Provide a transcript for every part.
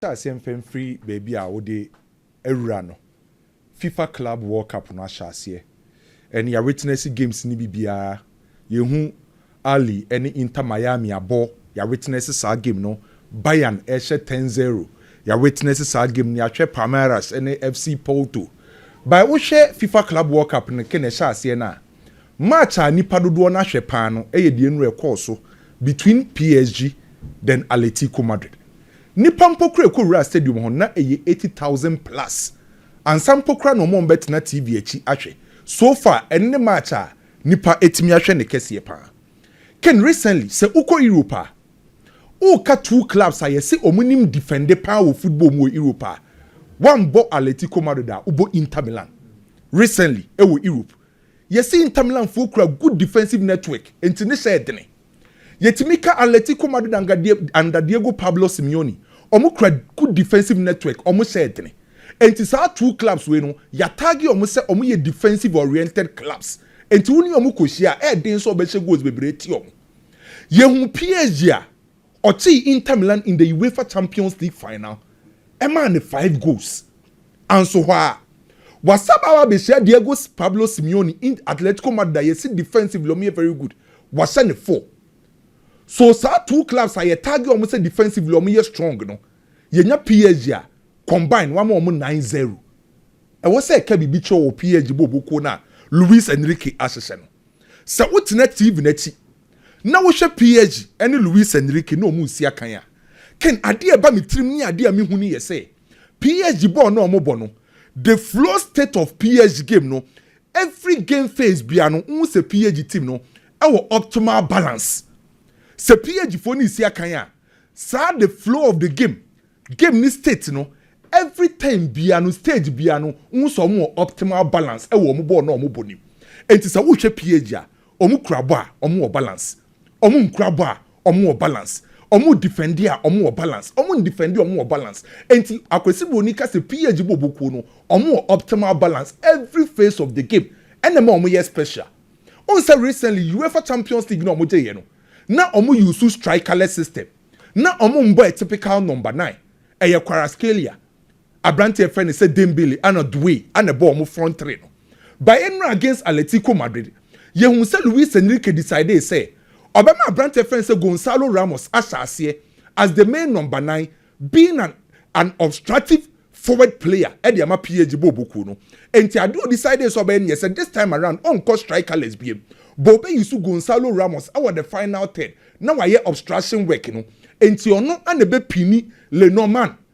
Hyɛ aseɛ mfa mfiri baabi a wode awura no. Fifa Club World Cup no ahyɛ aseɛ and yɛ witness games no bi biara. Yɛhu Ahly ne Inter Miami abɔ, yɛ witness saa game no. Bayern rehyɛ ten zero, yɛ witness saa game no. Yɛahwɛ Palmeiras ne FC Porto. By wohwɛ Fifa Club World Cup no ke na ɛhyɛ aseɛ no a, match a nnipa dodoɔ no ahwɛ paa no yɛ deɛ nnura ɛkɔɔ so between PSG then Aletico Madrid. Nnipa mpo kora ɛkɔ wuraa stadium hɔ no na ɛyɛ eighty thousand plus ansa mpo kora na wɔn a wɔn bɛtena TV akyi ahwɛ. So far ɛno ne match a nnipa ɛtumi ahwɛ ne kɛseɛ paa. Ken recently sɛ wokɔ Europe a woka two clubs a yɛse wɔn nim defende paa wɔ football mu wɔ Europe a woambɔ Aletico Madrid a wobɔ Inter Milan recently ɛwɔ Europe. Yɛse Inter Milan foɔ kura good defensive network nti ne hyɛɛ dene. Yɛtumi ka Atletico Madrid under Diego Pablo Simeone, wɔn kura good defensive network, wɔn hyɛɛ dene. Nti saa two clubs wei no yɛatagge wɔn sɛ wɔn yɛ defensive oriented clubs. Nti wo ne wɔn kɔhyia a, ɛyɛ den sɛ wɔbɛhyɛ goals bebree atia wɔn. Yɛhu PSG a, Ɔkyee Inter Milan in the Uefa Champions League final maa no five goals. Anso hɔ ara, wasan aba abehyia Diego Pablo Simeone in Atletico Madrid a yɛse defensively wɔyɛ very good, wahyɛ no four. So saa two clubs a yɛtag wɔn sɛ defensively wɔyɛ strong no, yɛnya PSG a, combine wama wɔn nnan zero. Ɛwɔ sɛ ɛka biribi kyerɛ wo wɔ PSG bɔɔlbɔ kuo no a Luis Enrique ahyehyɛ no. Sɛ wotena TV no akyi Ná wohwɛ Piaget ne Luis Enrique na wɔresi akan a, Ken, ade a ɛba me tirim ne ade a mihu no yɛ sɛ Piaget bɔɔl no a wɔbɔ no, The Flow State of Piaget Game no, every game phase biara no, wohu sɛ Piaget team no wɔ optimal balance. Sɛ Piagetfo no resi akan a, saa the flow of the game, game no state no, every time biara no, stage biara no, wohu sɛ wɔwɔ optimal balance wɔ wɔn bɔɔl no a wɔbɔ no mu. Enti sɛ wohwɛ Piaget a, Ɔmo kura bɔ a, ɔmo wɔ balance. Ɔmo nkura bɔ a, ɔmo wɔ balance. Ɔmo difɛnde a, ɔmo wɔ balance. Ɔmo ndifɛnde a, ɔmo wɔ balance. Enti Akwasi Broni ka sɛ PAG bɔbɔ kuo no, ɔmo wɔ optimal balance every phase of the game. Ɛna ɛma ɔmo yɛ special. Wohu sɛ recently Uefa Champions League no a ɔmo gyeeɛ no, na ɔmo use strikerless system. Na ɔmo mbɔ a typical number nine. Ɛyɛ Kvaratskhelia. Aberante a yɛfrɛ no sɛ Dembele ana Doué a na ɛbɔɔ wɔn front three no. Bayern no against Atletico Madrid, yɛhuu sɛ Luis Enrique decidee sɛ ɔbɛma aberante a yɛfrɛ no sɛ Gonçalo Ramos ahyɛ aseɛ as the main number nine being an an obstructive forward player de ama PSG Bobo kuo no. Enti adeɛ a ɔdecidee sɛ ɔbɛyɛ no yɛ sɛ this time around ɔnkɔ strikerless biom. But ɔbɛuse Gonçalo Ramos wɔ the final third na wayɛ obstruction work no. Enti ɔno ana ɛbɛpini Le Normand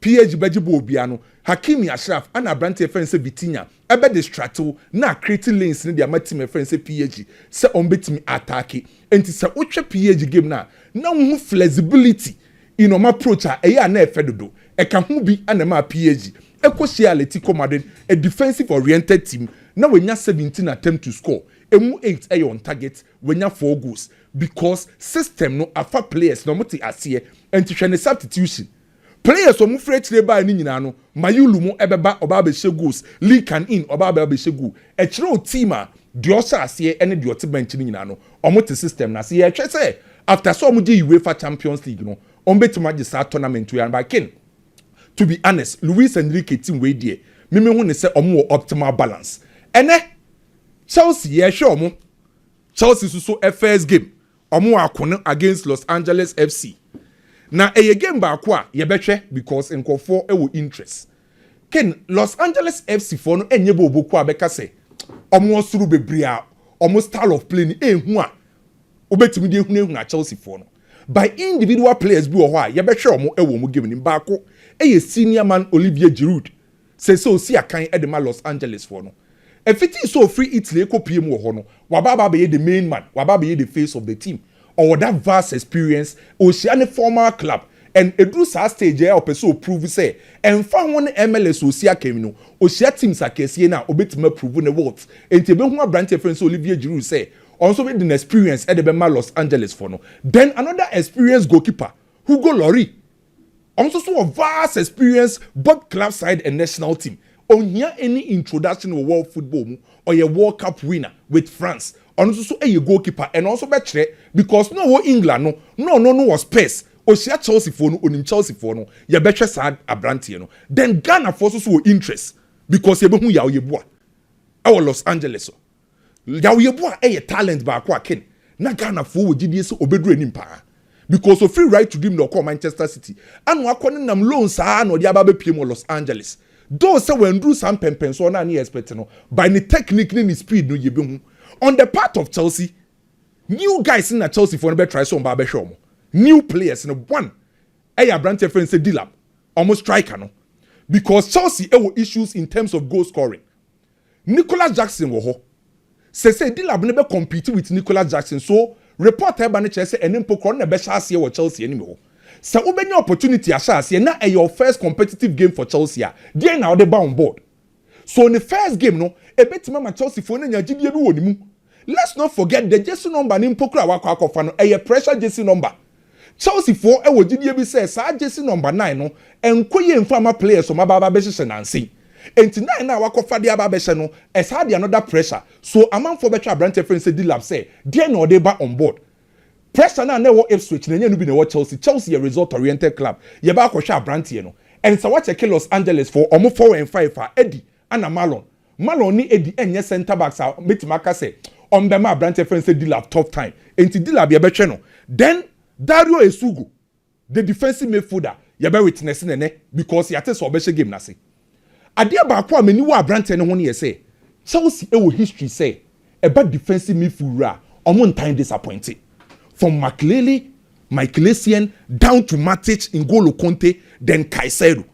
PH bɛgye bɔɔl biara no, Hakimi Ashraf ana aberante a yɛfrɛ no sɛ Vitinha bɛde stratew na acreate lanes no de ama team a yɛfrɛ no sɛ PH sɛ wɔbetumi aataake. Enti sɛ wohwɛ PH game no a, na wuhu flexibility in wɔn approach a ɛyɛ a na ɛfɛ dodo. Ɛka ho bi na ɛmaa PH kohyiaa Atletico Madrid, a defensive oriented team, na wɔanya seventeen attempts to score, emu eight yɛ on target, wɔanya four goals because system no afa players no, wɔte aseɛ, enti hwɛ ne substitutions. Players a wɔfiri akyire baeɛ no nyinaa no, Mayulu mo bɛba ɔba abɛhyɛ goals, Lee Kan In ɔba aba abɛhyɛ goal. Ɛkyerɛ wo team a deɛ ɔhyɛ aseɛ ne deɛ ɔte bench no nyinaa no, wɔte system no ase. Yɛrehwɛ sɛ after sɛ wɔgye UEFA Champions League no, wɔbɛtumi agye saa tournament wei anaa? But Ken, to be honest, Luis Enrique team wei deɛ, me mehu no sɛ wɔn wɔ optimal balance. Ɛnnɛ, Chelsea yɛrehwɛ wɔn, Chelsea nso so first game, Ɔmo ako no against Los Angeles FC na ɛyɛ game baako a yɛbɛhwɛ because nkorɔfoɔ wɔ interest. Ken, Los Angeles FC foɔ no nyɛ bɛ ɔbɔku a bɛka sɛ ɔmo wɔ soro bebree a ɔmo style of play no ɛnhu a wobɛtumi de ahunahuna Chelsea foɔ no. By individual players bi wɔ hɔ a yɛbɛhwɛ ɔmo wɔ ɔmo game no mu. Baako yɛ senior man Olivier Giroud. Seesei osi akan de ma Los Angelesfoɔ no. Ɛfiti sɛ ɔfiri Italy rekɔpue mu wɔ hɔ no, waba aba abɛyɛ the main man, waba abɛyɛ the face of the team. Ɔwɔ that vast experience, ɔhyia ne former club and ɛduru saa stage yi a ɔpɛ sɛ ɔprove sɛ ɛmfa ho ne MLS a ɔsi akan mu no, ɔhyia teams akɛseɛ no a ɔbɛtumi aprove ne worth. Enti ɛbɛhu aberanteɛ yɛfrɛ no sɛ Olivier Giroud sɛ ɔno nso de n'experience de bɛma Los Angelesfoɔ no. Then another experienced goalkeeper, Hugo Lloris, Ɔno nso so wɔ vast experience both club side and national team. Ɔnhia any introduction wɔ world football mu. Ɔyɛ world cup winner with France. Ɔno nso so yɛ goalkeeper. Ɛnɔ nso bɛkyerɛ because na ɔwɔ England no na ɔno no wɔ Spurs. Ɔhyia Chelsea foɔ no ɔnim Chelsea foɔ no. Yɛbɛhwɛ saa abranteɛ no. Then Ghana foɔ nso so wɔ interest because yɛbɛhu Yaw Yeboah ɛwɔ Los Angeles. Yaw-Yebo a ɛyɛ talent baako a Kane na Ghanafoɔ wɔ gyidie sɛ ɔbɛduru anim paa because ɔfiri Right to Dream na ɔkɔɔ Manchester City ɛna wakɔ ne nam loan saa na ɔde aba abɛpiem wɔ Los Angeles though sɛ wanduru saa mpɛnpɛnsoɔ no a na yɛ expect no by ne technique ne ne speed no yɛbɛhu on the part of Chelsea new guys no na Chelsea foɔ no bɛtrae sɛ ɔmba abɛhwɛ ɔmo new players no one ɛyɛ aberanteɛ yɛfrɛ no sɛ Delap ɔmo striker no because Chelsea ɛwɔ issues in terms of goal scoring Nicholas Jackson wɔ hɔ sesei, Delap no bɛ compete with Nicholas Jackson so report a ɛba no kyerɛ sɛ ɛne mpo korɔ no na ɛbɛhyɛ aseɛ wɔ Chelsea anim hɔ. Sɛ wobɛnya opportunity ahyɛ aseɛ na ɛyɛ wo first competitive game for Chelsea a, deɛn na wode ba on board? So ne first game no ɛbɛtumi ama Chelsea foɔ no anya gyidie bi wɔ ne mu? Let's not forget the jersey number no mpo koraa a wakɔ akɔfa no ɛyɛ pressure jersey number Chelseafoɔ wɔ gyidie bi sɛ saa jersey number nine no nkɔ yie mfa mma players a wɔaba abɛhyehyɛ nansa yi. Enti nine no a wɔakɔfa de aba abɛhyɛ no, ɛsaa de another pressure. So amanfoɔ bɛtwe aberanteɛ frɛ no sɛ Delap sɛ deɛn na ɔde reba on board? Pressure no a na ɛwɔ Ipswich no, ɛnyɛ ɛno bi na ɛwɔ Chelsea. Chelsea yɛ result oriented club. Yɛba akɔhwɛ aberanteɛ no. Ɛnsa woakyɛke Los Angelesfoɔ, wɔfɔw ɛmfa ɛfa adi Ana Marlon. Marlon ne Eddie ɛnyɛ centre backs a mɛtumi aka sɛ wɔn bɛma abranteɛ fɛn sɛ Dilap tough time. Ɛnti Dilap yɛbɛhwɛ no. Then Dario Esugo, the defensive midfielder, yɛbɛ witness no ɛnɛ because yɛate sɛ ɔbɛhyɛ game no ase. Adeɛ baako a m'ani wɔ abranteɛ no ho no yɛ sɛ, Chelsea wɔ history sɛ ɛba defensive midfield wura a, ɔmo ntan disappointe. From Makelele, Michael Essien, down to Matic, N'Golo Kante, then Caicedo.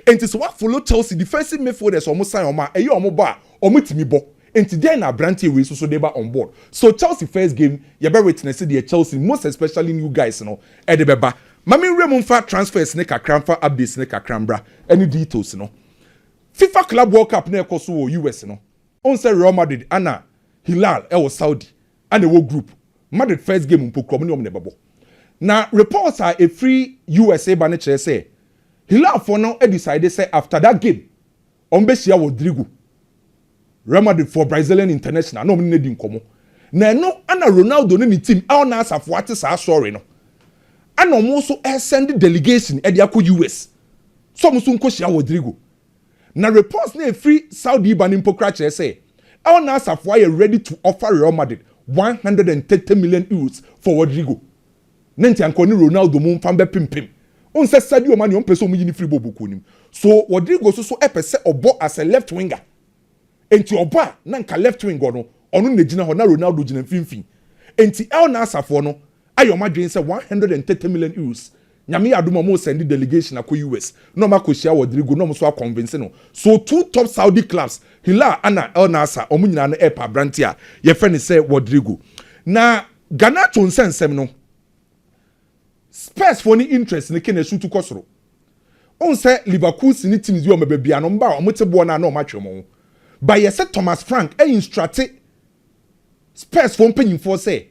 Enti sɛ woafollow Chelsea defensive midfielders a ɔmo sign ɔmo a, ɛyɛ ɔmo bɔ a, ɔmo tumi bɔ. Enti dɛn na abranteɛ wei nso so de ba on board? So Chelsea first game, yɛbɛ witness deɛ Chelsea, most especially new guys no, ɛde bɛba. Ma me nwura mu mfa transfers no kakra mfa updates no kakra mbra, ɛne details no. Fifa Club World Cup no a ɛkɔ so wɔ US no, Wohu sɛ Real Madrid na Hilal wɔ Saudi na ɛwɔ group. Madrid first game mpo kura wɔn ne wɔn na ɛbɛbɔ. Na reports a ɛfiri US reba no kyerɛ sɛ Hilal foɔ no decide sɛ after that game wɔbɛhyia Rodrygo, Real Madrid foɔ Brazilian international na wɔne no adi nkɔmmɔ. Na ɛno na Ronaldo ne ne team Al Nassr foɔ ate saa story no na wɔn nso resend delegation de akɔ US sɛ wɔn nso nkɔhyia Rodrygo Na reports na ɛfiri Saudi reba no mpo koraa kyerɛ sɛ El Nassr foɔ ayɛ ready to offer Real Madrid one hundred and thirty million euros for Rodrygo. Na nti anka ɔne Ronaldo mo mfa mbɛpempem. Wohu sɛ Sadio Mane ɔmpɛ sɛ ɔmo yi no firi bɔɔlbɔ kuo no mu. So Rodrygo so so ɛpɛ sɛ ɔbɔ as a left winger? Enti ɔbɔ a na nka left wing wɔ no, ɔno na gyina hɔ, na Ronaldo gyina mfimfini. Enti El Nassr foɔ no ayɛ wɔn adwene sɛ one hundred and thirty million euros, Nyame yɛ adom a wɔn sɛnde delegation akɔ US na wɔn akɔ hyia Rodrygo na wɔn nso akɔnvinse no. So two top Saudi clubs, Hilal ana El Nassr, wɔn nyinaa no ɛɛpɛ aberanteɛ a yɛfrɛ no sɛ Rodrygo. Na Garnacho nsɛnsɛm no. Spurs foɔ no interest no kane ɛsutu kɔ soro Wohu sɛ Leverkusen ne teams bi wɔn bɛba bia no wɔn ba a wɔn te boɔ no a na wɔn atwe wɔn ho Ba yɛ sɛ Thomas Frank a instructe Spurs foɔ mpanyinfoɔ sɛ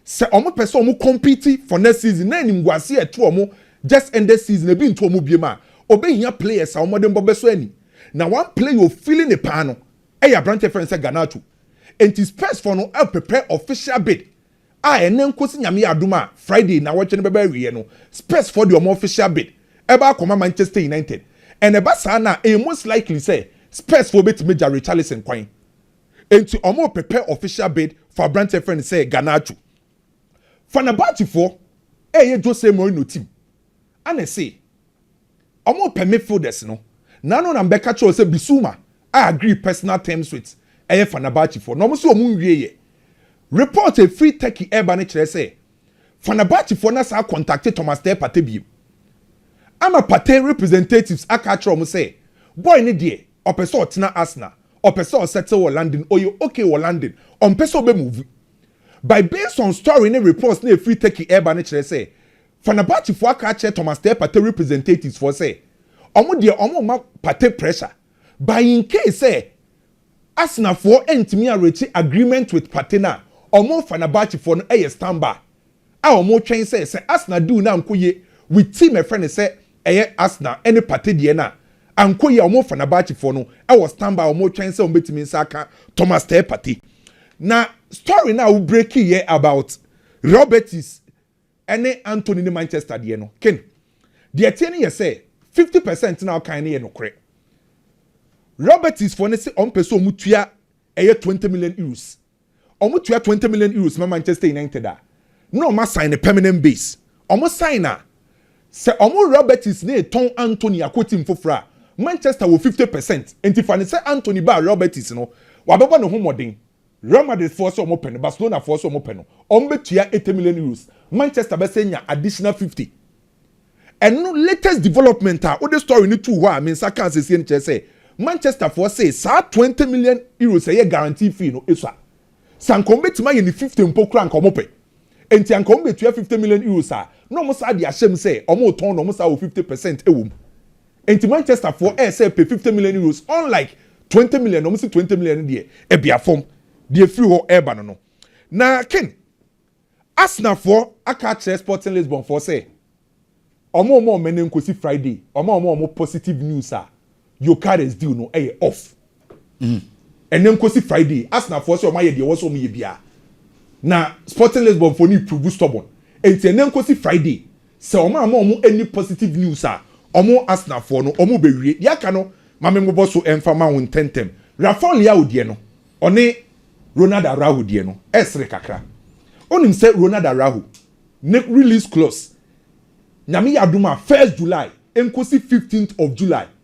sɛ wɔn pɛ sɛ wɔn compete for next season na animguaseɛ a ɛto wɔn just ended season ebi nto wɔn biem a wɔbɛhia players a wɔn de mbɔ bɛsɔ ani Na one player a ɔfeeli ne paa no yɛ aberanteɛ a yɛfrɛ no sɛ Garnacho Enti Spurs foɔ no ɛreprepare official bid a ɛnnɛ nkosi Nyame yɛ adom a Friday nnawɔtwe no bɛba awieɛ no, Spurs foɔ de wɔn official bid ɛba akɔma Manchester United. And ɛba saa no a, ɛyɛ most likely sɛ Spurs foɔ bɛtumi agya Richarlison kwan. Enti wɔrepɛpɛ official bid for aberanteɛ yɛfrɛ no sɛ Garnacho. Fenerbahce foɔ ɛreyɛ Jose Mourinho team, ɛna ɛse. Wɔrepɛ me folders no, n'ano na mebɛka kyerɛɛ wo sɛ Bissouma a agree personal terms with ɛyɛ Fenerbahcefoɔ na wɔn se wɔn nwieɛ. Report a ɛfiri Turkey ɛreba no kyerɛ sɛ Fenerbahcefoɔ no asan akɔntakte Thomastel Partey bio ama Partey representatives aka akyerɛ wɔn sɛ boy no deɛ ɔpɛ sɛ ɔtena Arsenal, ɔpɛ sɛ ɔsettle wɔ London, ɔyɛ okay wɔ London, ɔmpɛ sɛ ɔbɛmove. By based on story ne reports no a ɛfiri Turkey ɛreba no kyerɛ sɛ Fenerbahce foɔ aka akyerɛ Thomas Teh Partey representatives foɔ sɛ wɔn deɛ wɔn remma Partey pressure but in case sɛ Arsenal foɔ ntumi anreache agreement with Partey no a wɔn ne Fenerbahce foɔ no yɛ standby a wɔn retwɛn sɛ sɛ Arsenal deal no ankɔ yie with team ɛfrɛ no sɛ ɛyɛ Arsenal ɛne Partey deɛ no a ankɔ yie a wɔn ne Fenerbahce foɔ no wɔ standby a wɔn retwɛn sɛ wɔn bɛtumi nsa aka Thomas Teh Partey na story no a wo breakiiɛ about Robertys ɛne Antony ne Manchester deɛ no, Ken, deɛ ɛteɛ no yɛ sɛ fifty percent no a ɔkae no yɛ nokorɛ. Robertsfoɔ no se ɔmpɛ sɛ wɔtua ɛyɛ twenty million euros. Wɔtua twenty million euros ma Manchester United a, na wɔasan no permanent base. Wɔsan no a, sɛ wɔn Roberts no retɔn Antony akɔ team foforɔ a, Manchester wɔ fifty percent. Enti fa no sɛ Antony baa Roberts no, wɔabɛbɔ ne ho mmɔden. Real Madrid foɔ sɛ wɔpɛ no, Barcelona foɔ sɛ wɔpɛ no, wɔbɛtua eighty million euros, Manchester bɛsɛ nya additional fifty. Ɛno latest development a wode story no too hɔ a me nsa kaa sesie no kyerɛ sɛ Manchester foɔ se saa twenty million euros a ɛyɛ guarantee fee no esua. Sɛ anka wɔbɛtumi ayɛ no fifty mpo koraa anka wɔpɛ. Enti anka wɔbɛtua fifty million euros a na wɔsaa de ahyɛ mu sɛ wɔretɔn no wɔsaa wɔ fifty percent wɔ mu. Enti Manchester foɔ ɛɛsɛ pay fifty million euros unlike twenty million na ɔmo se twenty million no deɛ ɛbea fam deɛ ɛfiri hɔ ɛɛba no no. Na Ken, Arsenal foɔ aka akyerɛ Sporting Lisbon foɔ sɛ ɔmo mma ɔmmɛne nkosi Friday ɔma ɔmo ɔmo positive news a Gyökeres deal no ɛyɛ off. Ɛnnɛ nkosi Friday, Arsenalfoɔ sɛ wɔayɛ deɛ ɛwɔ sɛ wɔyɛ biara, na Sporting Lisbonfoɔ no reprove stubborn. Enti ɛnnɛ nkosi Friday, sɛ wɔamma wɔn anni positive news a, wɔn, Arsenalfoɔ no, wɔbɛwie. Deɛ aka no, ma memmobɔ so mfa mma wo ntɛmntɛm. Rafael Leao deɛ no, ɔne Ronald Araujo deɛ no, ɛresere kakra. Wonim sɛ Ronald Araujo ne release clause, Nyame yɛ adom a, first July nkosi fifteenth of July,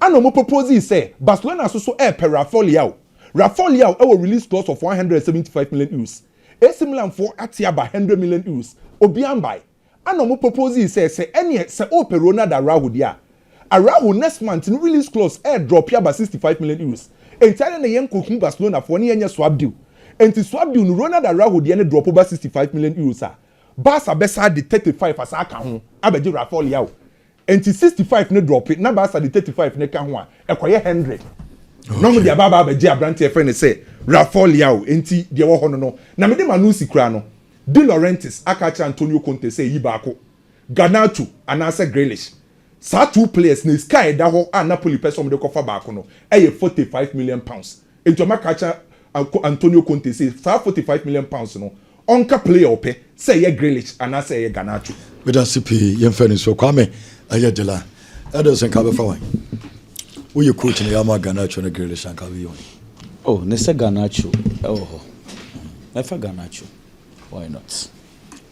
Ana ɔmo proposee sɛ Barcelona so so ɛɛpɛ Rafael Leao. Rafael Leao ɛwɔ release clause of one hundred and seventy five million euros. AC Milan foɔ ate aba hundred million euros. Obiaa mbae. Ana ɔmo proposee sɛ sɛ ɛneɛ sɛ oopɛ Ronald Araujo deɛ a, Araujo next month no release clause ɛɛ drop aba sixty five million euros. Enti adɛn na yɛn kɔ hu Barcelona foɔ ne yɛn nyɛ swap deal. Enti swap deal no Ronald Araujo deɛ no drop ba sixty five million euros a, Barca bɛsan de thirty five asan aka ho abɛgye Rafael Leao. Enti sixty five no drɔpe na Baasa de thirty five no ka ho a, ɛkɔyɛ hundred. Na wɔde aba aba abɛgye aberante a yɛfrɛ no sɛ Rafael Leao. Enti deɛ ɛwɔ hɔ no no, na mede ma Nusi koraa no, De Laurentiis aka akyerɛ Antonio Conte sɛ yi baako, Garnacho anaasɛ Grealish. Saa two players no, sika a ɛda hɔ a Napoli pɛ sɛ wɔde kɔfa baako no, ɛyɛ forty five million pounds. Enti wɔaka akyerɛ Antonio Conte sɛ saa forty five million pounds no, Ɔnka player ɔpɛ, sɛ ɛyɛ Grealish anaa sɛ ɛyɛ Garnacho. Medase pii yɛn fɛ no so. Kwame ɛyɛ dela Ederson ka bɛfa wan? Wo yɛ coach na yɛama Garnacho ne Grealish a nka bɛyɛ wan? Oh ne sɛ Garnacho ɛwɔ hɔ mɛfa Garnacho why not.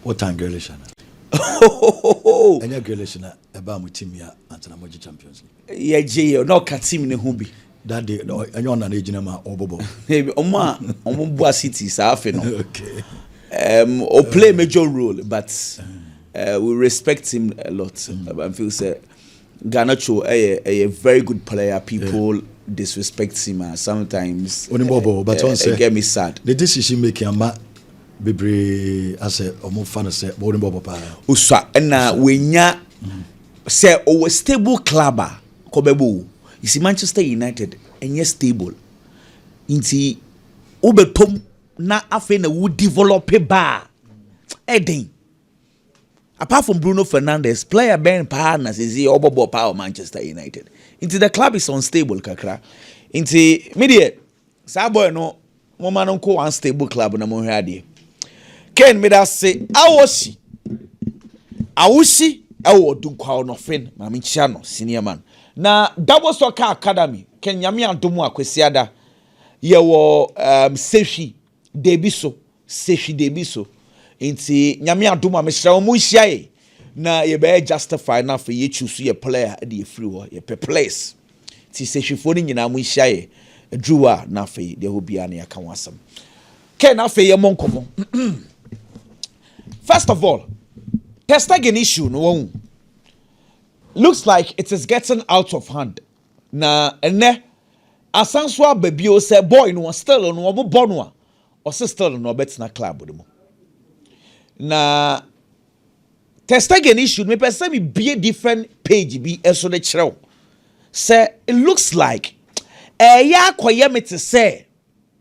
Wo tan Grealish ana? Ohohohohoh. Ɛnyɛ Grealish na ɛbaa mo team yi a ansa na mo gye Champions League. Yɛgye yɛ na ɔka team no ho bi. That day no ɛnyɛ ɔna na egyina ma ɔbɔbɔ. Ebi ɔmo a ɔmo bua city saa afe no. Okay. Um, o play uh, major role but uh, we respect him a lot. Mm. I feel say Garnacho ɛyɛ ɛyɛ very good player people. Yeah. disrespect him ah sometimes. Onimọ̀bọ̀ ọba tí wọ́n sẹ́. It get me sad. The decision making ama bebree asẹ ọmọ fa na sẹ bọ́ onimọ̀bọ̀ paa. Osua ẹna wẹ̀nya sẹ ọwọ stable club a. kɔ bɛbɔ o you see Manchester United ɛnyɛ stable nti wo bɛ tɔ mu na afei na wo develop ba a ɛden apart from Bruno Fernandes player bɛn paa na sisi ɔbɔ bɔ paa wɔ Manchester United nti the club is unstable kakra nti me deɛ Saa boy no moma no nko one stable club na monhwɛ adeɛ Ken meda se awosi awosi ɛwɔ ɔdunkwaw no fen ma menkyia no senior man na double soccer academy Ken nyame adom a kwasiada yɛwɔ um, sehwi Dabi so, se hwi dabi so. Nti Nyame adom a mesrɛ wo mo nhyia yɛn na yɛbɛyɛ justify na afei yɛ choose yɛ player de afiri hɔ. Yɛpɛ players. Nti se hwifoɔ no nyinaa mo nhyia yɛn aduru hɔ a na afei deɛ ɛhɔ biara no yɛaka ho asɛm. Kɛ na afei yɛ mmɔ nkɔmmɔ. First of all, Ter Stegen issue no wahu. Looks like it is getting out of hand. Na ɛnnɛ asan so aba bio sɛ boy no still no wɔbobɔ no a ɔse still no ɔbɛtena club no mu. Na Ter Stegen issue no mepɛ sɛ mebie different page bi so de kyerɛ wo sɛ it looks like ɛyɛ akɔyɛ me te sɛ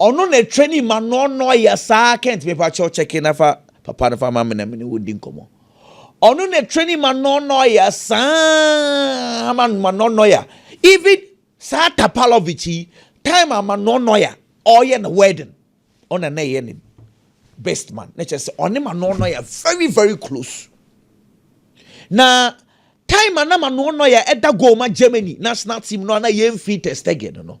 Ɔno na ɛtwa ni ma no ɔno ɔyɛ saa kent mepa kyɛw kyɛke na fa papa no fa ma me na me ne wo di nkɔmɔ. Ɔno na ɛtwa ni ma no ɔno ɔyɛ saa ma no ma no ɔno ya. Even saa Tapalovic yi time ama no ɔno ya ɔyɛ na wedding. Ɔna na ɛyɛ ne best man na kyerɛ sɛ ɔne ma no ɔno ya very very close. Na Time a na Manuel Neuer da goal ma Germany national team no a na yemmfi Ter Stegen no,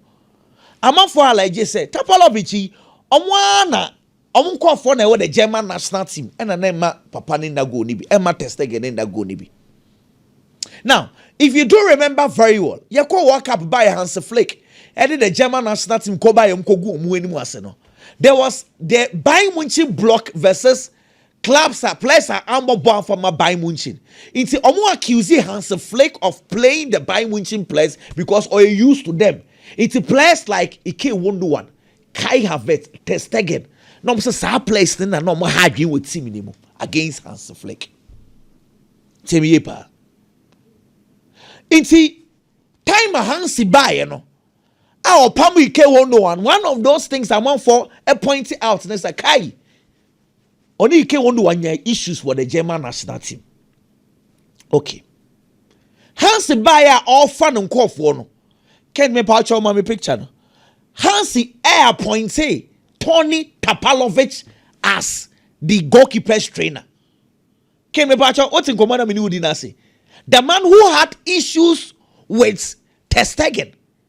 amanfoɔ hala gye sɛ Tapalovic yi, wɔn ara na wɔn nkurɔfoɔ na ɛwɔ the German national team na na ɛmma papa no nna goal no bi, ɛmma Ter Stegen no nna goal no bi. Now, if you do remember very well, yɛkɔ World Cup baeɛ Hansi Flick ɛde the German national team kɔ baeɛ wɔn kɔgu wɔn anim ase no, there was the Bayern Munchen block versus Clubs a players a ammɔ bɔ amfa mma Bayern Munchen nti wɔn accuse Hansi Flick of playing the Bayern Munchen players because ɔyɛ used to them nti players like Ike Wonduan, Kai Havertz, Ter Stegen na wɔn sɛ saa players no na na wɔn ha adwene wɔ team no mu against Hansi Flick. Temi yie paa. Nti time a Hansi baeɛ no a ɔpam Ike Wonduan one of those things amanfoɔ point out ne sɛ Kai ɔne ike wɔn de wanya issues wɔ the german national team okay hansi baeɛ a ɔrefa no nkɔɔfoɔ no kɛn me paa kyɛw ma me picture no hansi ɛ appointe tony tapalovic as the goalkeepers trainer kɛn me paa kyɛw wote nkɔmɔ na me ne wodi n'ase the man who had issues with testegen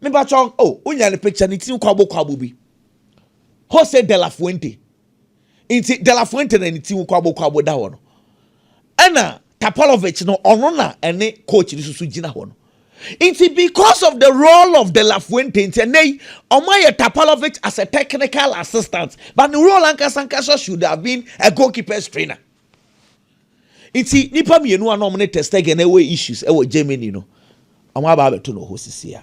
Me patrɔ oh wonya ne picture ne tiri kwabo kwabo bi Jose de la Fuente nti de la Fuente na ne tiri kwabo kwabo da hɔ no ɛna Tapalovic no ɔno na ɛne coach no susu gyina hɔ no nti because of the role of de la Fuente nti ɛnɛ yi ɔmo ayɛ Tapalovic as a technical assistant but the role ankasa ankasa should have been a goalkeepers trainer. Nti nipa mmienu a na wɔn ne Testegen ɛwɔ issues ɛwɔ Germany no, wɔn aba abɛto no hɔ sisi a.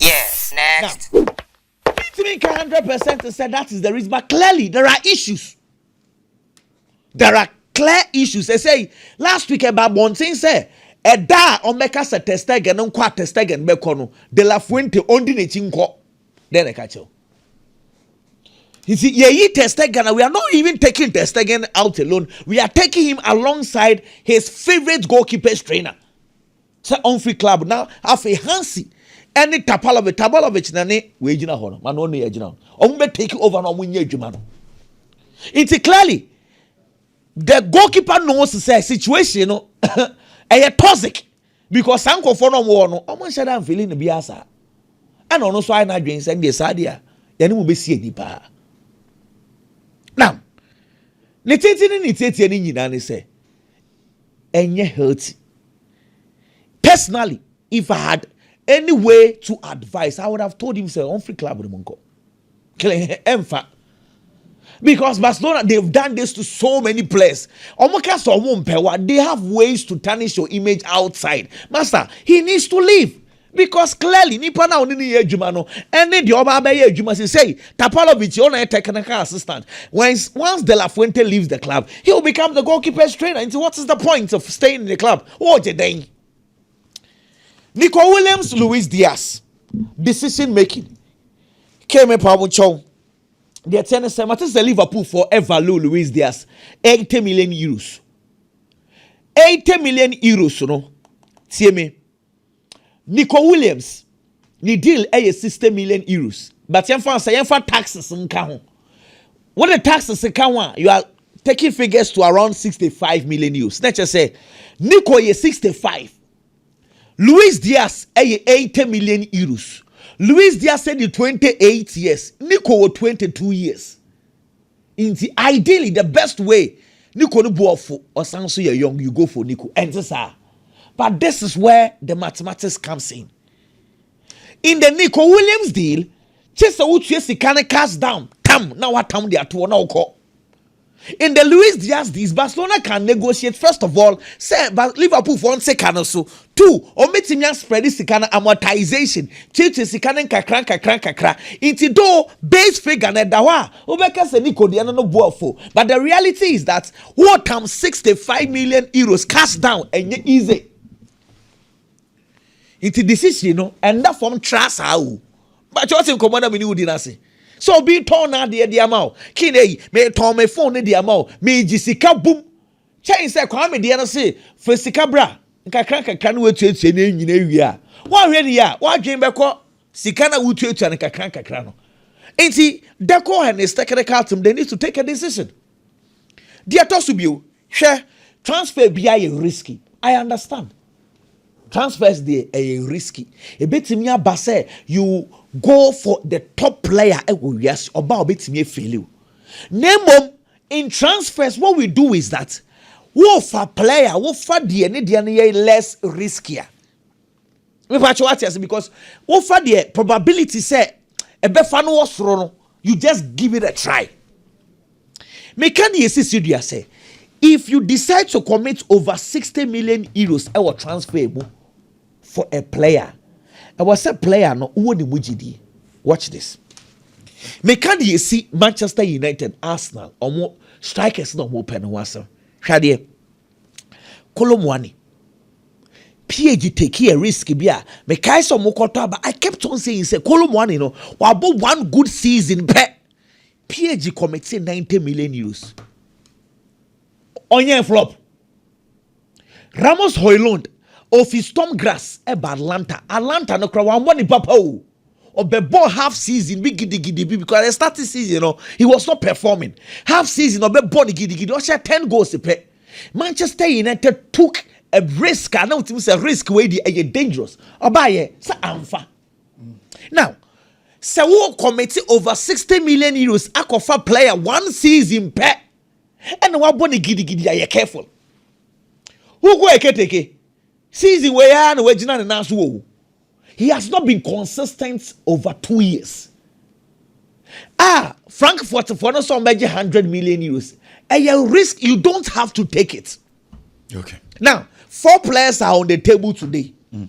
Yes, next. Na mintumi nka hundred percent sɛ that is the reason but clearly there are issues. There are clear issues. Ɛsɛ yi last week ɛba abɔnten sɛ ɛda a wɔn bɛka sɛ Testegen nkɔ a Testegen bɛkɔ no, De La Fuente ɔndi n'akyi nkɔ. Dɛn na ɛka kyɛw? You see, yeah, he Ter Stegen, we are not even taking Ter Stegen out alone. We are taking him alongside his favorite goalkeepers trainer. So on free club now, afei Hansi ɛne Tapalovic Tapalovic na ne wei gyina hɔ no ma no ɔno yɛ gyina hɔ wɔn bɛ take over na wɔn nyɛ adwuma no nti clearly the goalkeeper knows sɛ situation no ɛyɛ toxic Because saa nkurɔfoɔ no a wɔwɔ hɔ no, wɔnhyɛ da mfeeli no biara saa. Ɛna ɔno nso ayɛ n'adwene sɛ deɛ saa deɛ yɛne mo bɛsi ani paa. Na ne tete ne ne tietie no nyinaa ne sɛ ɛnyɛ healthy. Personally, if I had any way to advise, I would have told him sɛ ɔmfiri club no mu nkɔ. Kleh ɛmfa. Because Barcelona, they've done this to so many players. Omoka so omumpewa, they have ways to tarnish your image outside. Master, he needs to leave. Because clearly, nipa na oni ni adwuma no, ɛne deɛ ɔba abɛyɛ adwuma sɛ sɛ Tapalovic yɛ ɔna yɛ technical assistant. Once, once De La Fuente leaves the club, he will become the goalkeeper's trainer. Nti, what is the point of staying in the club? Wɔgye dɛn? Nico Williams Luis Diaz decision making kee me pa wo nkyɛw deɛ teɛ ne sɛ mate sɛ Liverpool for ever low Luis Diaz 80 million euros 80 million euros no tie me Nico Williams Ne deal yɛ sixty million euros but yɛnfa sɛ yɛnfa taxes nka ho. Wo de taxes ka ho a you are taking figures to around sixty five million euros. Na kyerɛ sɛ Nico yɛ sixty five. Luis Diaz yɛ eighty million euros. Luis Diaz yɛ twenty eight years. Nico wɔ twenty two years. Nti ideally the best way Nico no boɔfo ɔsan nso yɛ young you go for Nico ɛnte saa but this is where the mathematics comes in in the Nico Williams deal kye sɛ wotua sika no cash down tam na watam de atoɔ na wokɔ in the Luis Diaz deal Barcelona can negotiate first of all sɛ Liverpool fɔ nse ka no so Two, wɔbɛtumi a spread sika no amortization, tuatua sika no nkakra nkakra nkakra, nti though base figure no ɛda hɔ a wobɛka sɛ Nico deɛ no no bo afuo but the reality is that woretam sixty five million euros cash down ɛnyɛ easy nti decision no ɛnda fam tra saa o bakyɛ wote nkɔmmɔ na mene wodi no ase sɛ obi tɔn n'adeɛ de ama o kii na eyi metɔn me phone no de ama o megye sika bum Kyɛn sɛ Kwame deɛ no se fa sika bra nkakra nkakra na woatuatua nneɛma nyina awie a, woanhwɛ no yie a, w'adwene bɛkɔ sika no a wotuatua no nkakra nkakra no. Nti, Decor and his technical team, they need to take a decision. Deɛ ɛtɔ so bio, hwɛ, transfer biara yɛ risky. I understand. Transfers deɛ ɛyɛ risky. Ɛbɛtumi aba sɛ you go for the top player ɛwɔ wiase, ɔba a ɔbɛtumi afeeli wo. Na mmom, In transfers what we do is that wofa player wofa deɛ ne deɛ no yɛ less riskier mepatwa wate ase because wofa deɛ probability sɛ ɛbɛfa no wɔ soro no you just give it a try meka deɛ ɛsisi dua sɛ if you decide to commit over 60 million euros ɛwɔ transfer mu for a player ɛwɔ sɛ player no wɔ ne mu gyidie watch this meka deɛ ɛsi Manchester United Arsenal ɔmo strikers na ɔmo pɛ no ho asɛm hwɛ adeɛ Kolo Muani PAG take a risk bi a mekae sɛ ɔmo kɔtɔ aba I kept on saying sɛ Kolo Muani no wabɔ one good season pɛ PAG committee 90 million euros ɔnyɛ flop Ramos Hoylund, ofi Storm Grass ba Atlanta. Atlanta no koraa wammɔ ne papa o. Ɔbɛbɔɔ half season bi gidigidi bi because the starting season no he was not performing. Half season ɔbɛbɔ no gidigidi ɔhyɛ ten goals pɛ. Manchester United took a risk a na wotumi sɛ risk wei di ɛyɛ dangerous. Ɔbaayɛ sɛ amfa. Now sɛ wo commit over sixty million euros akɔfa player one season pɛ. ɛna wabɔ no gidigidi a yɛ careful wokɔ ɛketeke season wei ara na wagyina ne nan so wɔ wo he has not been consistent over two years a frankfurt foɔ no sɛ ɔmbɛgye hundred million euros ɛyɛ risk you don't have to take it okay. now four players are on the table today mm.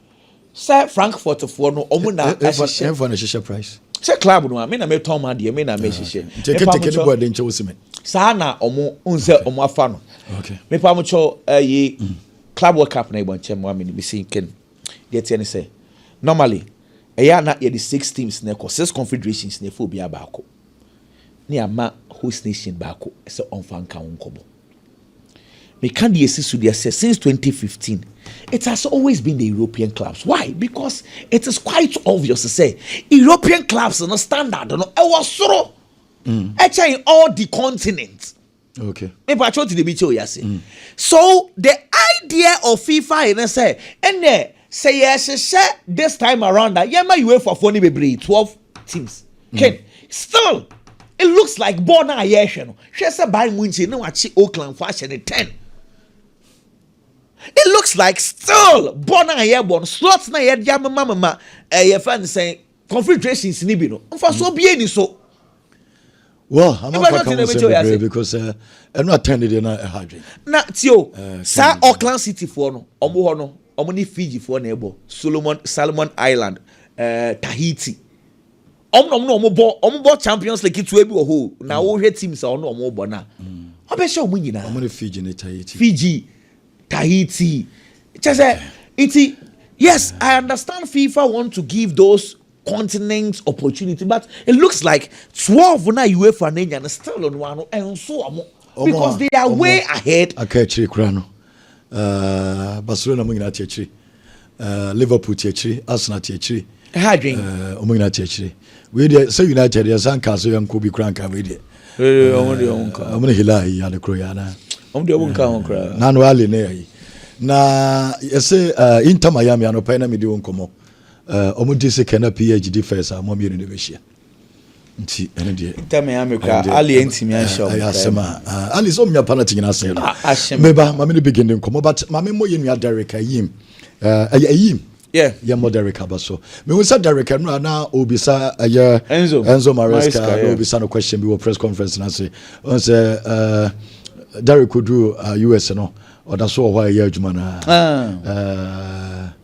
sɛ frankfurtfoɔ no ɔmo na ahyehyɛ ɛnfa na hyehyɛ price sɛ club no a me na me tɔn ma deɛ me na me ah, hyehyɛ nti keteke no bɔ ɛde nkyɛn wosi mi saa na ɔmo n sɛ ɔmo afa no mepa mo kyɛw ɛyi eh, mm. club world cup na ɛbɔ nkyɛn mu amene me si nken deɛ teɛ ne sɛ normally ɛyɛ ana yɛde six teams na ɛkɔ six confederations na ɛfɛ obiara baako ne ama host nation baako sɛ ɔnfa nka ho nkɔmɔ. Me ka deɛ ɛsi so deɛ sɛ since 2015 it has always been the European clubs why because it is quite obvious sɛ European clubs no standard no ɛwɔ soro mm. ɛkyɛn all the continent. Okay. Me pa choti de bi che oyase. Mm. So the idea of FIFA is say ene Sɛ yɛhyehyɛ this time around a yɛma UEFA foɔ no bebree twelve teams mm. ken still it looks like ball no a yɛrehwɛ no hwɛ sɛ Bayern Munchen na wakye Oakland foɔ ahyɛ no ten it looks like still ball no a yɛbɔ no slots na yɛde amemamema ɛyɛ fɛn sɛn configurations ni bi no nfasoɔ bie ni so. wɔ amanfa kan sɛ bebree because eh, ɛno atɛn deɛ na ɛha adwen. na ti o eh, saa Auckland city foɔ no wɔn hɔ no wɔn ne Fiji foɔ na ɛbɔ Solomon Salomon Island ɛɛ eh, Tahiti wɔn na wɔn na wɔn bɔ wɔn bɔ Champions League ketewa bi wɔ hɔ na mm. wɔhwɛ teams a wɔn na wɔn bɔ na wɔbɛhyɛ mm. wɔn nyinaa. wɔn ne Fiji ne Tahiti. Fiji. Tahiti kyɛ sɛ nti yes I understand FIFA want to give those continents opportunity but it looks like twelve na UEFA na enya no still no ano ɛnso wɔn because they are way ahead. Aka akyire kura no uh, Barcelona mo nyinaa te akyire. Uh, Liverpool te akyire, Arsenal te akyire. Ɛha adwen. Uh, wɔn nyinaa te akyire. Wei deɛ sɛ United yɛ san kaa so yɛ nko bi kura nka wei deɛ. Ee eh, wɔn deɛ wɔn nka. Wɔn ne Hilal yi ade koro yɛ ana. Wɔn deɛ wɔn nka ho kura. Eh, Nanu Ali ne yɛ yi. Na yɛsɛ uh, Inter Miami anɔpɛ na mi di wɔn nkɔmɔ. Uh, wɔn di second na PSG di first a wɔn mmienu de bɛ hyia. nti ɛne deɛ ntɛm ya me kura ali ntumi ahyɛ ɔmo asɛm a ali sɛ ɔmo nya pa na ti nyina asɛm no ahyɛ me ba maame ne begin de nkɔmɔ but maame mmɔ yɛ nua derek ayim ɛyɛ ayim yɛ mmɔ derek aba so mehu sɛ derek ɛnura na obisa ɛyɛ enzo enzo maresca na obisa no question bi wɔ press conference na se ɔn sɛ derek odu us no ɔda so wɔ hɔ a ɛyɛ adwuma no a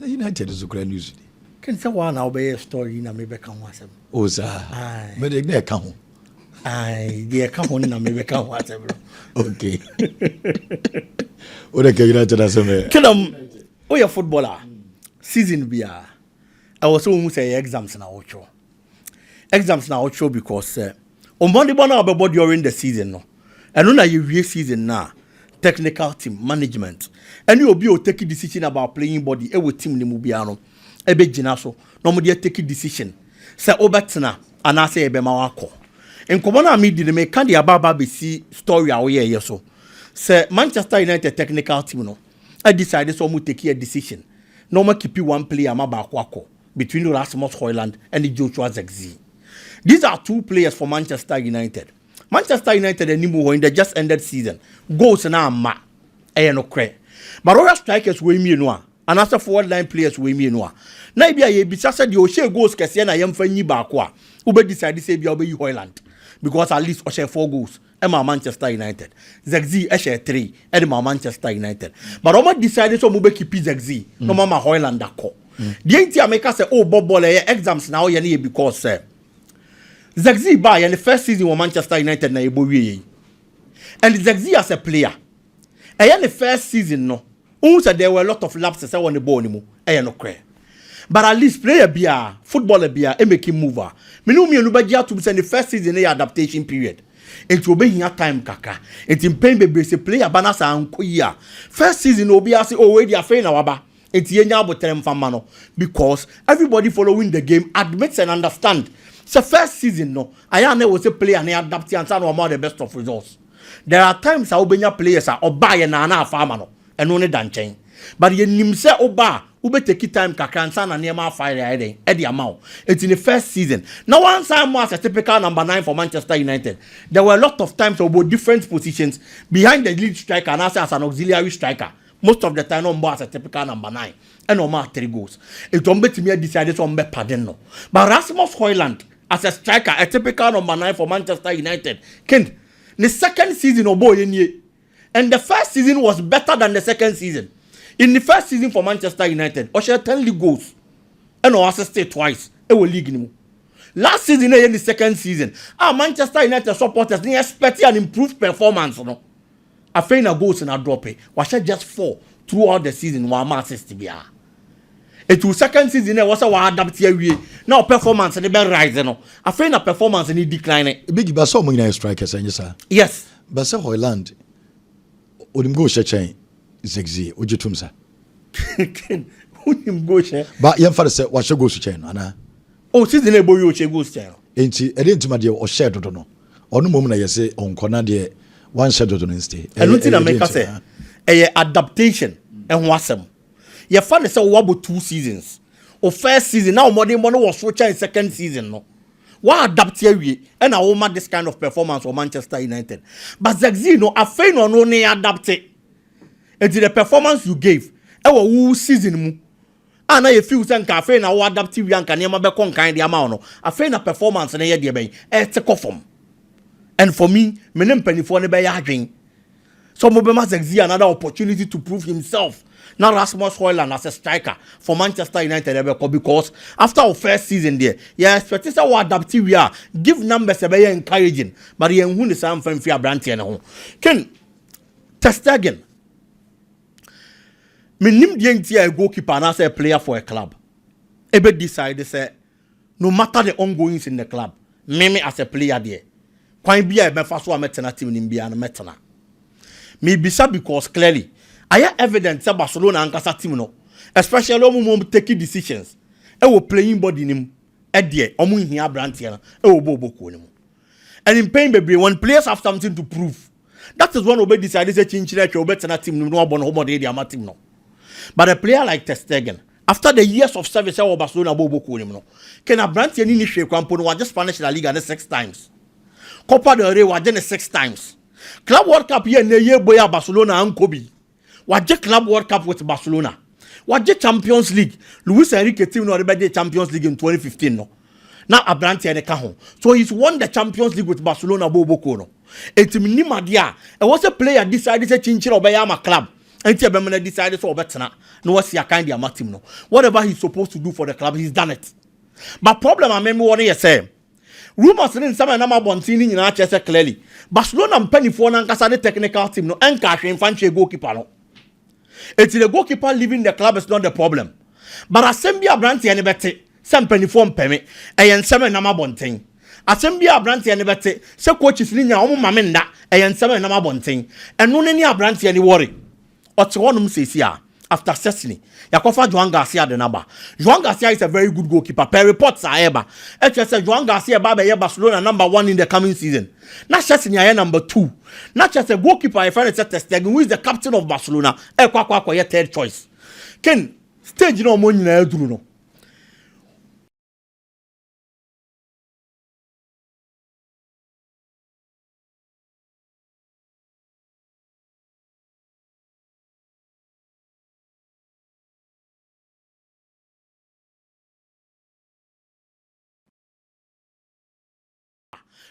Na United nso koraa news ni. Ken sɛ woa na wobɛyɛɛ story yi na me bɛka ho asɛm. Oh saa. Aye. Mede na ɛka ho. Aye, deɛ ɛka ho no na me bɛka ho asɛm no. Okay. Wode ka United asɛm ɛ. Kenam, woyɛ footballer a, season biara ɛwɔ sɛ wohu sɛ ɛyɛ exams na wotwerɛ. exams no a ɔkyerɛw because sɛ wo mmɔdemmɔ no a wobɛbɔ during the season no ɛno na yɛwie season no a technical team management ɛne obi a ɔtake decision about playing body ɛwɔ team no mu biara no ɛbɛgyina so na wɔde atake decision sɛ wobɛtena anaasɛ yɛbɛma wakɔ nkɔmmɔ no a medi no meka de aba aba bɛsi story a woyɛɛyɛ so sɛ Manchester United technical team no adecide sɛ wɔtake a decision na wɔakipi one player ma baako akɔ between Rasmus Hojlund ne Joshua Zirkzee. These are two players for Manchester United. Manchester United anim hɔ in the just ended season, goals no amma. Ɛyɛ nokorɛ. But wohwɛ strikers wei mmienu a, anaasɛ forward line players wei mmienu a, na ebi a yɛbisa sɛ deɛ ɔhyɛɛ goals kɛseɛ na yɛmfa nyi baako a, wobɛ decide sɛ ebi a wobɛyi Hojlund because at least ɔhyɛɛ four goals. maa Manchester United. Zirkzee hyɛɛ three de maa Manchester United. But wɔn decide sɛ wɔn bɛ kipi Zirkzee na wɔn ama Hojlund akɔ. Deɛ nti a meka sɛ o bɔ bɔɔl ɛyɛ exams na ɔyɛ ne yɛ because sɛ Zirkzee baa yɛ ne first season wɔ Manchester United na yɛbɔ wie yɛ yi. And Zirkzee as a player. Ɛyɛ ne first season no wohu sɛ there were a lot of lapses ɛwɔ ne bɔɔl no mu, ɛyɛ nokorɛ. But at least player biara, footballer biara ɛmake move a, me ne wo mmienu bɛgye atom sɛ ne first season no yɛ adaptation period. Enti ɔbɛhia time kakra. Enti mpɛn bebree sɛ player ba na sɛ ankɔ yie a, first season no obiara se oh wei deɛ afei na waba enti yɛnya aboterɛ mfa mma no because everybody following the game admits and understand sɛ first season no ayɛ a na ɛwɔ sɛ player no adapte ansa na wama the best of results. There are times a wobɛnya players a ɔbaa yɛ naa na afa ama no, ɛno ne da nkyɛn. But yɛnim sɛ woba a, wobɛteki time kakra ansa na nneɛma afa ayɛ dɛn ɛde ama wo. Ɛti ne first season, na wansan mmɔ as a typical number nine for Manchester United. There were a lot of times a ɔbɔɔ different positions, behind the lead striker anaasɛ as an auxiliary striker. Most of the time na ɔmbɔ as a typical number nine. Ɛna ɔmaa three goals. Ɛti wɔbɛtumi a decide sɛ wɔbɛ pardon no. But Rasmus Højlund As a striker, a typical number nine for Manchester United, kind, ne second season ɔbɔɔ yɛ nie and the first season was better than the second season. In ne first season for Manchester United, ɔhyɛɛ ten league goals ɛna ɔassistee twice ɛwɔ league no mu. Last season na ɛyɛ ne second season a Manchester United supporters ne expect an improved performance no. Afei na goals no adrɔpe. Wahyɛ just four throughout the season, wamma assist biara. Enti wo second season no a ɛwɔ sɛ woadapte awie na wo performance no bɛ rise no, afei na performance no decline. Biggie, ba sɛ wɔn nyinaa yɛ strikers, ɛnyɛ saa? Yes. Ba sɛ Hojlund, onim goal hyɛ kyɛn Zirkzee, wogye tom saa? Ken, wonim goal hyɛ? Ba yɛmfa no sɛ wahyɛ goals kyɛn no anaa? Oh, season a ɛbɔ wie ɔhyɛ goals kyɛn no. Enti ɛdeɛ nti ma deɛ ɔhyɛɛ dodo no ɔno mmom na yɛse ɔnkɔ na deɛ wanhyɛ dodo no nste ɛyɛ Ɛno nti na ɛyɛ deɛ meka nti sɛ haa? ɛyɛ adaptation ho asɛm. Yɛfa no sɛ woabɔ two seasons. Wo first season na wo mmɔdenbɔ no wɔ soro kyɛn second season no. Woaadapte awie ɛna woma this kind of performance wɔ Manchester United. But Zexi no afei na ɔno ne adapte. Enti the performance you gave ɛwɔ wo season mu a na yɛfiw sɛ nka afei na woadapte wie a nka nneɛma bɛkɔ nkan de ama wo no, afei na performance no yɛ deɛ bɛn? Ɛrete kɔ fam. And for me, me ne mpanimfoɔ no bɛyɛ adwene sɛ wɔbɛma Zirkzee another opportunity to prove himself na Rasmus Hojlund as a striker for Manchester United ɛbɛkɔ because after wo first season deɛ, yɛ expect sɛ woadapte wie a give numbers ɛbɛyɛ encouraging but yɛnhu ne saa mfa mfiri aberanteɛ no ho. Ken Ter Stegen. Mennim deɛ nti a a goalkeeper anaasɛ a player for a club ɛbɛ decide sɛ no matter the ongoings in the club, me me as a player deɛ, kwan bi a mɛfa so a mɛtena team no mu biara no mɛtena. Mebisa because clearly ayɛ evident sɛ Barcelona ankasa team no, especially wɔn mu wɔn take decisions ɛwɔ playing body no mu ɛdeɛ, wɔn nhia aberanteɛ no ɛwɔ bɔɔl bɔ kuo no mu. And mpɛn bebree when players have something to prove, That is when obe decide sɛ kyinkyin atwa obe tena team no mu na wabɔ ne ho mmɔden de ama team no. But a player like Ter Stegen, after the years of service ɛwɔ Barcelona bɔɔlbɔ kuo no mu no, can aberanteɛ no nni hwee kora mpo no wagye Spanish La Liga ne six times. Copa del Rey wagye ne six times. Club World Cup yi a nnɛ yi ɛbɔ yi a Barcelona ankɔ bi. Wagye Club World Cup with Barcelona. Wagye Champions League. Luis Enrique team na ɔde bɛgye Champions League in 2015 no. Na abranteɛ no ka ho. So he's won the Champions League with Barcelona bɔ oboko no. Enti menim adeɛ a ɛwɔ sɛ player decide sɛ kyinkyini a ɔbɛyɛ ama club nti ɛbɛma no decide sɛ ɔbɛtena na wasi akan de ama team no. Whatever he's supposed to do for the club, he's done it. But problem a me mewɔ no yɛ sɛ Rumours ne nsɛm a ɛnam abɔnten no nyinaa kyerɛ sɛ clearly Barcelona mpanimfoɔ no ankasa ne technical team no nkaa hwee mfa nkyɛɛ goalkeeper no. Enti the goalkeeper leaving the club is not the problem. But asɛm bi a aberanteɛ no bɛte sɛ mpanimfoɔ mpɛ me, ɛyɛ nsɛm a ɛnam abɔnten. Asɛm bi a aberanteɛ no bɛte sɛ coaches no nya wɔn mma me nna, ɛyɛ nsɛm a ɛnam abɔnten. Ɛno ne nea aberanteɛ no worry. Ɔte hɔ nom seesei a after Szczesny. Yɛakɔfa Joan Garcia de no aba. Joan Garcia is a very good goalkeeper per reports a ɛreba. Ɛkyerɛ sɛ Joan Garcia bɛba abɛyɛ Barcelona number one in the coming season. Na Szczesny ayɛ number two. Na kyerɛ sɛ goalkeeper a yɛfrɛ no sɛ Ter Stegen who is the captain of Barcelona ɛrekɔ akɔ akɔyɛ third choice. Ken, stage no a wɔn nyinaa aduru no,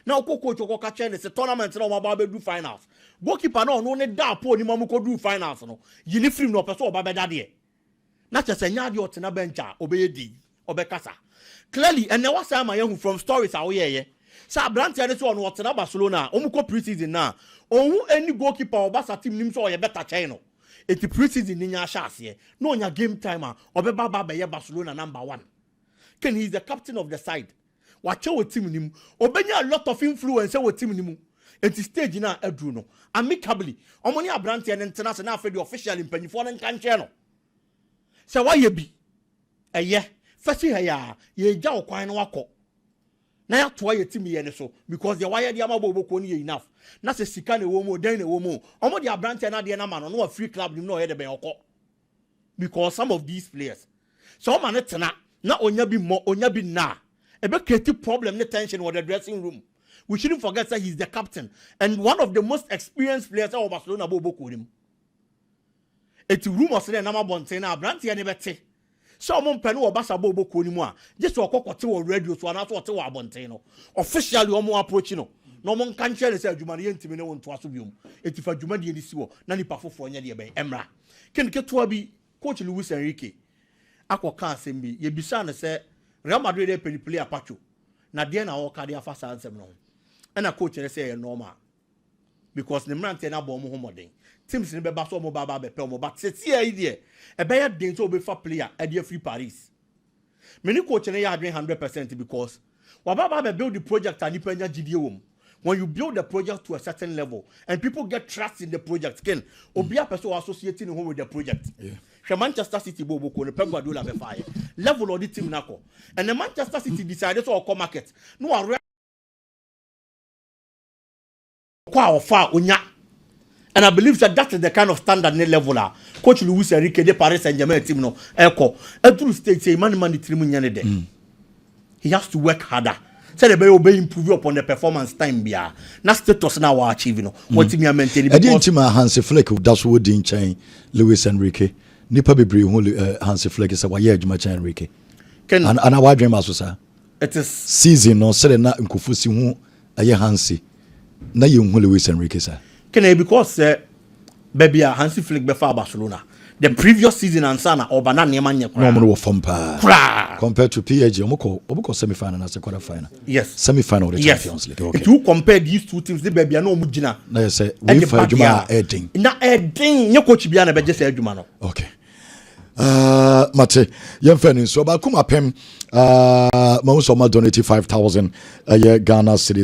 na ɔkɔ coach ɔkɔka kyerɛ ne sɛ tournament na wɔaba abɛdu finals goalkeeper na ɔno ne da apɔ onim a wɔkɔduru finals no yi ne firim na ɔpɛ sɛ ɔba bɛda deɛ Na kyerɛ sɛ ɛnyɛ adeɛ ɔtena bench a ɔbɛyɛ dei, ɔbɛkasa. Clearly ɛnnɛ wasan ama yɛahu from stories a woyɛeɛ sɛ abranteɛ no sɛ ɔno ɔtena Barcelona a wɔkɔ pre-season no a, ɔnhu ɛnni goalkeeper a wɔ Barca team no mu sɛ ɔyɛ better kyɛn no. Enti pre-season no nya ahyɛaseɛ na ɔnya game time a, ɔbɛba aba abɛyɛ Barcelona number one. Kane he is the captain of the side wakyɛ wɔ team no mu ɔbɛnya a lot of influence wɔ team no mu nti stage no a aduru no amicably ɔmo ne abranteɛ no ntena ase na afei deɛ officially mpanyifoɔ no nka nkyerɛ no sɛ wayɛ bi ɛyɛ fa si ha yɛ a yɛgya wo kwan no wakɔ na yɛatoa yɛ team yɛ no so because deɛ wayɛ de ama bɔɔlbɔkuo no yɛ enough na sɛ sika na ɛwɔ mu o dɛn na ɛwɔ mu o ɔmo de abranteɛ no adeɛ no ama no na wafiri club no mu na ɔyɛ de bɛn ɔkɔ because some of these players sɛ ɔma no tena na ɔnya bi mmɔ ɔnya bi nna a ɛbɛ create problem ne tension wɔ the dressing room we shouldn't forget sɛ he is the captain and one of the most experienced players ɛwɔ Barcelona bɔ ɔbɔ kuo no mu ɛti rumours ne nam abɔnten no abranteɛ ne bɛte sɛ ɔmo mpɛ no wɔ Barca bɔ ɔbɔ kuo no mu a gye sɛ ɔkɔ kɔte wɔ radio so anaasɛ ɔte wɔ abɔnten no officially ɔmo approach no na ɔmo nka nkyerɛ no sɛ adwuma no yɛntumi ne wo ntoa so biom ɛti fa dwumadie no si hɔ na nipa foforɔ nyɛ deɛ bɛn ɛmmra Ken ketewa bi, coach Luis Enrique akɔka asɛm bi. Yebisaa no sɛ, Real Madrid repɛ ne player Pacho, na deɛn na ɔreka de afa saa nsɛm no ho? Ɛna coach kyerɛ sɛ ɛyɛ normal because ne mmeranteɛ no abɔ wɔn ho mmɔden. Teams no bɛba sɛ wɔreba aba abɛpɛ wɔn but sɛsiiaa yi deɛ, ɛbɛyɛ den sɛ wɔbɛfa player de afiri Paris. Me ne coach no yɛ adwene hundred percent because waba aba abɛ build project a nipa nya gyidie wɔ mu. When you build the project to a certain level and people get trust in the project kin, obiara pɛ sɛ ɔ associate ne ho with the project. Hwɛ Manchester City bɔ ɔbɔ kuo no, Pep Guardiola bɛ faeɛ. Level a ɔde team no akɔ. Ɛnɛ Manchester City decide sɛ ɔkɔ market na wa kɔ a ɔfa a onya and I believe sɛ that is the kind of standard ne level a coach Luis Enrique de Paris Saint-Germain team no ɛkɔ ɛduru stage sɛ ɛma ne ma ne tirim nyɛ ne dɛ mm. he has to work harder sɛdeɛ ɛbɛyɛ obɛ improve upon the performance time biara na status na wa achieve no mm. wɔtumi a maintain because ɛdeɛ nti ma Hansi Flick da so wɔ din kyɛn Luis Enrique nipa bebree hu eh, Hansi Flick sɛ wayɛ adwuma kyɛn Enrique ana wadwen ma so saa it is season no sɛdeɛ na nkɔfo si ho ɛyɛ Hansi na yɛnhu Luis Enrique saa. Kane because sɛ baabi a Hansi Flick bɛfaa Barcelona the previous season ansa na ɔba na nneɛma nyɛ koraa. Na wɔn no wɔ fam paa. Koraa. Compared to PSG, wɔn kɔ wɔn kɔ semi final na se quarter final. Yes. Semi final wɔde Champions League. Okay. Nti wo compare these two teams de baabi a na wɔn gyina. Na yɛ sɛ wei fa adwuma a ɛden. Na ɛden nye coach bi a na bɛgye sɛ adwuma no. Okay. Uh, mate yɛmfa ne nsuo baako mapem uh, mahu sɛ ɔma donate 5000 ɛyɛ ghana series